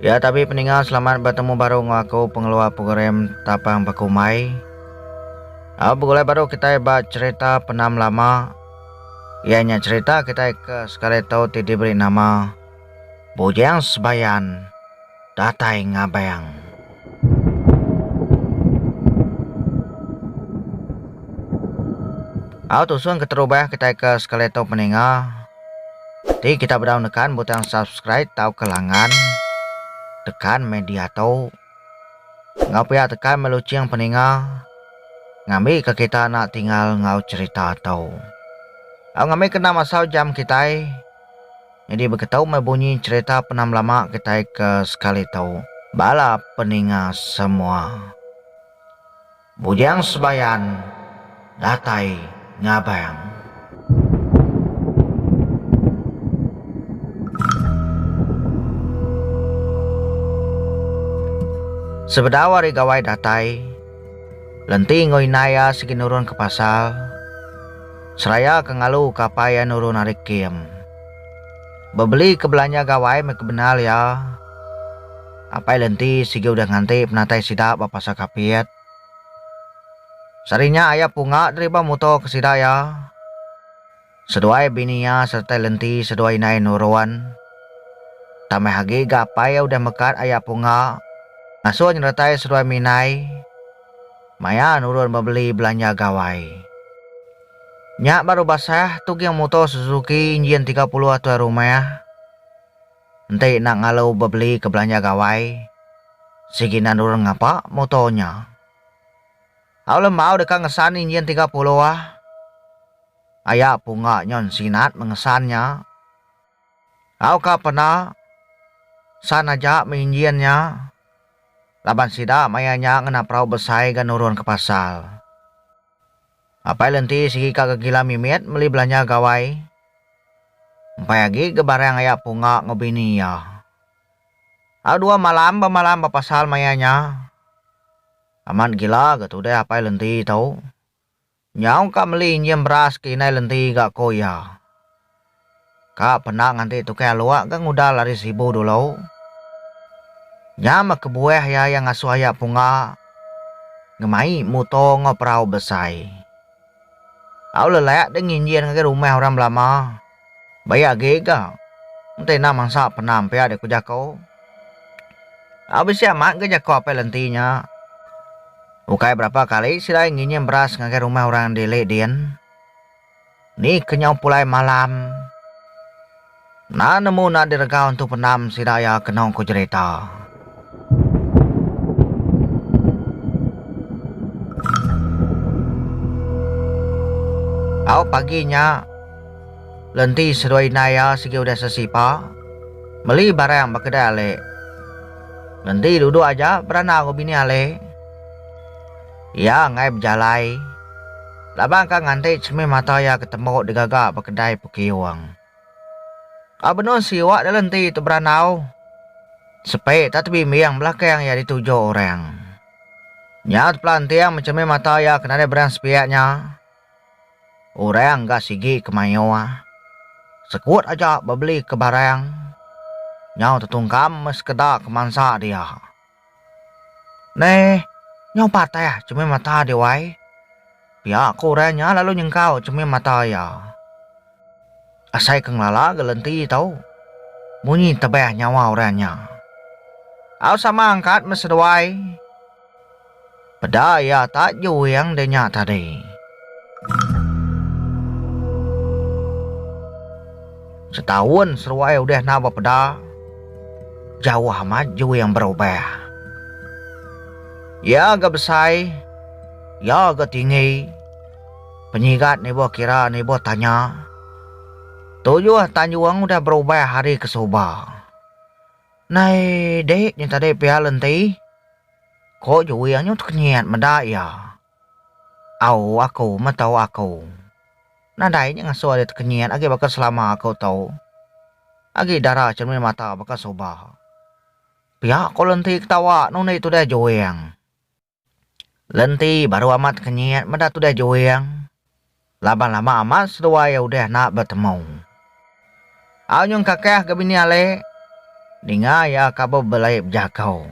Ya tapi peninga selamat bertemu baru ngo aku pengeluar program tapang bekumai. Ah begulai baru kita ba cerita penam lama. Ia nya cerita kita ke sekali tau ti diberi nama Bujang Sebayan. datai ngabang. Au tusung keterubah kitai ke sekali tu peninga. Ti kita bedau nekan butang subscribe tauka langan. Tekan meh dia tu. Enggau pia tekan meh lucing peninga. Ngambi ke kita nak tinggal enggau cerita tu. Au ngambi ke enda masau jam kitai. Nyadi baka tau meh bunyi cherita penam lama kitai ke sekali tu bala peninga semua. Bujang Sebayan datai ngabang. Sebedau ari gawai datai, Lenti enggau indai iya sigi nurun ke pasar. Seraya ke ngalu ke apai iya nuru narik kem. Bebeli ke belanja gawai meh ke bendar iya. Apai Lenti sigi udah nganti penatai sida ba Pasar Kapit. Sehari nya Ayah Punga deriba muto ke sida iya. Seduai bini iya sereta Lenti seduai indai nurun. Tambah agi ga apai iya udah mekat Ayah Punga ngasuh nyeretai seduai minai. Maya nurun bebeli belanja gawai. Nya baru basah tuging muto Suzuki injin tiga puluh tuai rumah. Enti enda ngalu bebeli ke belanja gawai, sigi enda nurun ngapa muto nya. Au lembau deka ngesan injin tiga puluh. Aya pungga nyon sinat mengesan nya. Au ka pena san aja me injin nya. laban sida maya nya ngena perau besai ga nurun ke pasar. Apai Lenti sigi ka gegila mimit meli belanja gawai. Empai agi ga barang aya punga enggau bini iya. Au dua malam ba malam ba pasar maya nya. Amat gila ga tudah Apai Lenti tu. Nyau ka meli injin beras ke indai lenti ga ko iya. Ka pena nganti tukang alok ga ngudal ari Sibu dulu. Nya meh kebuah iya iya ngasuh aya punga ngemai muto enggau perau besai. Au lelak deh nginjin ngagai rumah orang belama. Baya agi ga. Enti enda mansa penam pia deh ku jaku. Au bisi amat ga jaku Apai Lenti nya. Ukai berapa kali sida ai nginyim beras ngagai rumah orang di Lake Din. Ni kenyau pulai malam. Enda nemu enda diregau entu penam sida iya kenu ku jerita. Au pagi nya, Lenti seduai indai iya sigi udah sesipa meli barang ba kedai ale. Lenti duduk aja berandau enggau bini ale. Iya enggai bejalai laban ka nganti cermin mata iya ke tembu digaga ba kedai Pukiung. Ka benung siwak dalam enti teberandau, sepe tak tebimbing belakang iya dituju orang. Nya tepelanting mencermin mata iya ke nadai berang sepiak nya, orang ga sigi ke mayuh sekut aja bebelika barang nyau tetungkam meh sekeda ke mansa dia. Neh, nyau patah chemeh mata deh wai. Pia ko orang nya lalu nyengkau chemeh mata iya. Asai ke ngelala ga lenti tau munyi tebah nyawa orang nya. Au sama angkat meh seduai. Peda iya tak juing de nya tadi. Setaun seruai udah enda bepeda, jauh amat juing berubah. Iya ga besai, iya ga tinggi. Penyigat nibuh kira nibuh tanya. Tujuh tanjung udah berubah ari ke suba. Nai dik nya tadi pia lenti. Ko Juwi anyu tekenyit meda iya. Au aku meh tau aku. Nadai nya ngasuh ari tekenyit agi baka selama aku tu. Agi dara cermin mata baka suba. Pia ko Lenti ketawa nundi tudah Juwing. Lenti baru amat tekenyit meda tudah Juwing. Laban lama amat seduai iya udah enda betemu. Au nyung kakah ga bini alik, ninga iya ka ba belai bejagau.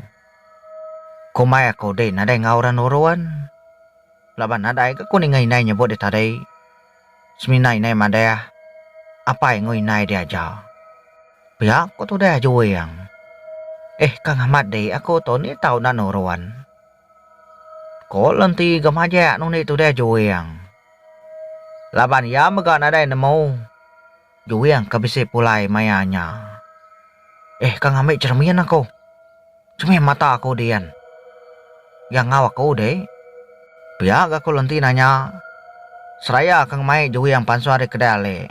Komai aku din nadai enggau orang nurun. Laban nadai ga ku ninga indai nyebut dia tadi. Semina indai madah, apai enggau indai dia aja. Pia ku tudah Juing. Eh Kang Amat dik aku tu ni tau enda nurun. Ko Lenti ga majak nundi tudah Juing. Laban iya mega nadai nemu Juing ke bisi pulai maya nya. Eh ka ngambi cheremin aku. Chemin mata aku din. Iya enggau aku dek. Pia ga ko Lenti nanya seraya ke ngemai Juing pansut ari kedai alik.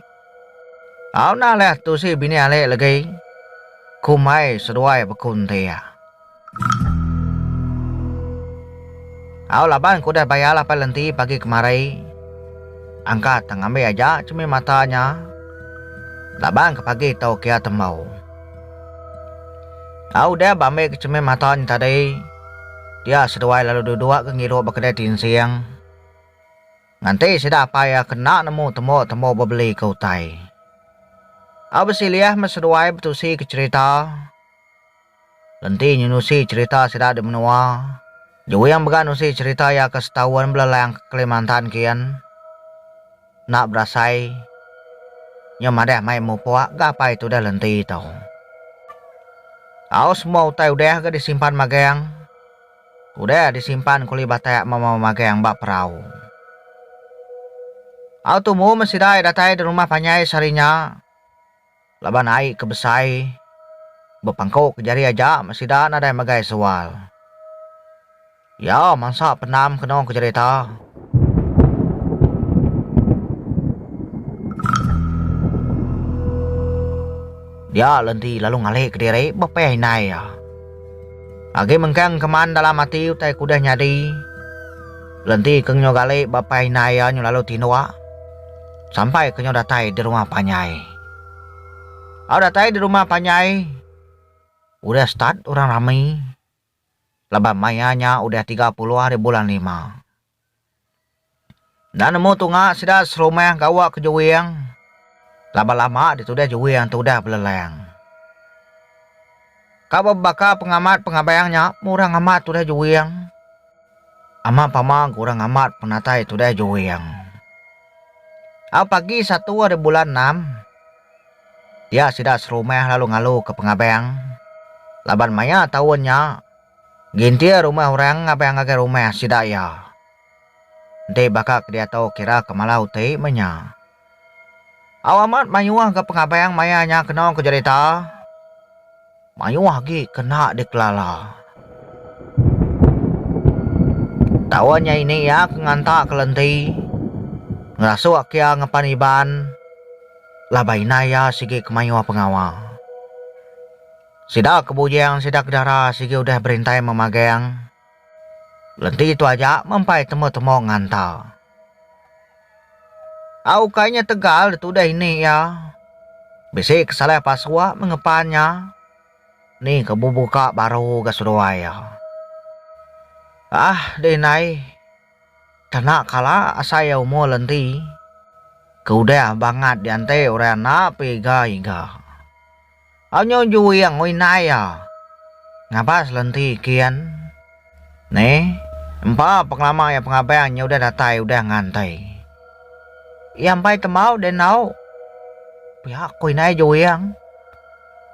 Au nah leh tusi bini alik legi. Kumbai seduai bekuntir. Au laban ku udah bayar lapai lenti pagi kemari. Angkat tang ambi aja chemih mata nya. Laban ke pagi tu kia tembau. Au udah ba ambi ke chemih mata nya tadi, dia seduai lalu duduk ke ngirup ba kedai tinsing. Nganti sida apai iya ke enda nemu tembu-tembu bebeli ke utai. Au bisi liah meh seduai betusi ke cherita. Lenti nyenusi cherita sida di menua. Juing mega nusi cherita iya ke setaun belelang ke Kelimantan kian. Enda berasai nya madah mai mupuk ga apai tudah lenti tu. Au semua utai udah ga disimpan magang. Udah disimpan kuli batak mama magang ba perau. Au tumu meh sida iya datai di rumah panjai sehari nya. Laban ai ke besai bepangku ke jari aja meh sida nadai megai sewal. Iya mansa pendam keno ke jerita. Dia lenti lalu ngalih kediri bepeh indai iya. Agi mengkang keman dalam ati utai ke udah nyadi, lenti ke ngenyo gali bepeh indai iya nyu lalu tinduk. Sampai ke nyau datai di rumah panjai. Au datai di rumah panjai udah start orang rami laban maya nya udah tiga puluh hari bulan lima. Enda nemu tunga sida serumah gawa ke juing laban lama ditudah juing tu udah belelang. Ka bebaka pengamat pengabank nya murang amat tudah juing. Ama pama gurang amat penatai tudah juing. Au pagi satu ari bulan enam, dia sida serumah lalu ngaluka pengabank laban maya taun nya gintir rumah orang ngabank ngagai rumah sida iya. Enti baka ke diatu kiraka malau ti meh nya. Au amat mayuh ga pengabang maya nya keno ku jerita. Mayuh agi kena dikelala. Taun nya ini iya ke nganta ke lenti ngerasuk ke iya ngepan Iban laban indai iya sigi ke mayuh pengawa. Sida ke bujing sida ke dara sigi udah berintai memagang lenti tu aja mempai temu-temu nganta. Au ukai nya tegal ditudah ini iya. Bisi ke salah pasua mengepan nya. Ni ke bebuka baru ga seduai iya. Aah deh indai tena kala asai iya umur le enti ke udah bangat dianti orang enda pun iga-iga. Anyu juing oi nai iya. Ngabas lenti kin. Ne. Empa pengelama iya pengabang nya udah datai udah ngantai. Iya embai tembau deh endo. Pia ko oi nai juing.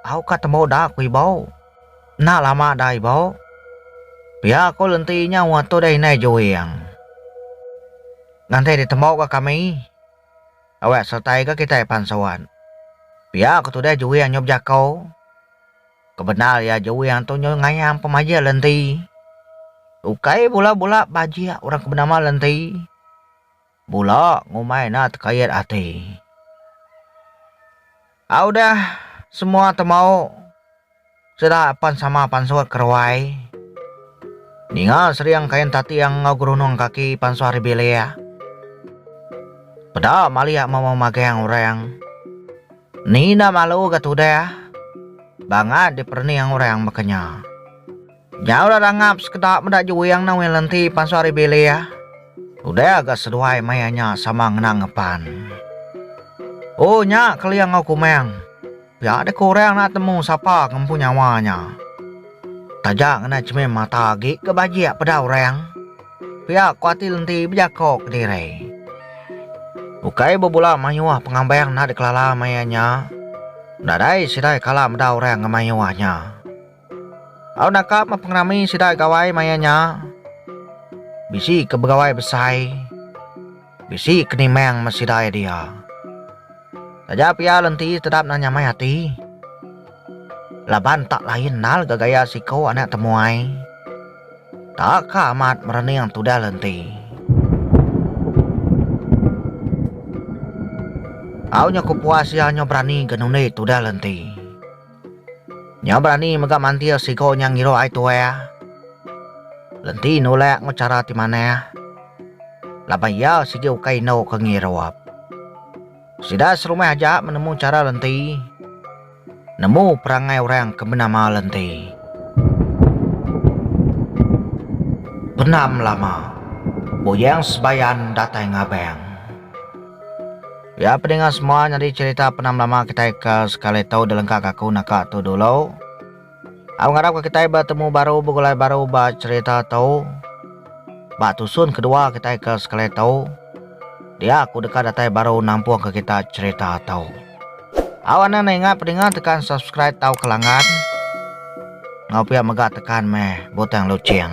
Au ka tembau da ko ibau. Enda lama da ibau. Pia ko lenti nya ngatur deh inai juing. Ngantai ditembau ka kami. Awak sertai ga kitai pan seruan. Pia ko tudah juing nyu bejako. Kebendar iya juing tu nyu ngayam pemajik lenti. Ukai bula bula bajik orang ke benama lenti. Bula ngumbai enda tekait ati. A udah semua temau sida pan sama pansut ke ruai. Ninga sering kain tatiang enggau gerunung kaki pansut ari bilik. Peda malik memu magang orang. Ni enda malu ga tudah bangat diperening orang baka nya. Nyau dah rangap sekeda meda juing ne weh lenti pansut ari bilih. Udah ga seduai maya nya sama ngena ngepan. O nya kelia enggau kumang. Pia deh kurang enda temu sapa ke empu nyawa nya. Taja ngena chemin mata agi ke bajik peda orang. Pia ku ati lenti bejako kediri. Ukai bebula mayuh pengambang enda dikelala maya nya. Nadai sida kala meda orang ngemayuh nya. Au naka meh pengerami sida gawai maya nya. Bisi ke begawai besai, bisi ke nimang meh sida iya dia. Taja pia lenti tetap nang nyamai ati. Laban tak lain endar ga gaya siko anak temuai. Taka amat merening tudah lenti. Au nyo ke puas iya nyo berani ga nundi tudah lenti. Nya berani mega mantir siku nya ngiruh ai tuah. Lenti nulak enggau chara ti manah. Laban iya sigi ukai indu ke ngirup. Sida serumah aja menemu chara Lenti. Nemu perangai orang ke benama Lenti. Pendam lama, Buyang Sebayan datai ngabang. Ya pedinga semua nyadi cerita pernah melama kitai ka sekali tau delengka ka aku naka tu dulu. Au ngarap ka kitai betemu baru begulai baru ba cerita tu. Ba tusun kedua kitai ka sekali tau. Dia aku deka datai baru nampung ka kita cerita tu. Au anang ne ingat pedinga tekan subscribe tau ke langgan. Ngau pia mega tekan meh butang luching.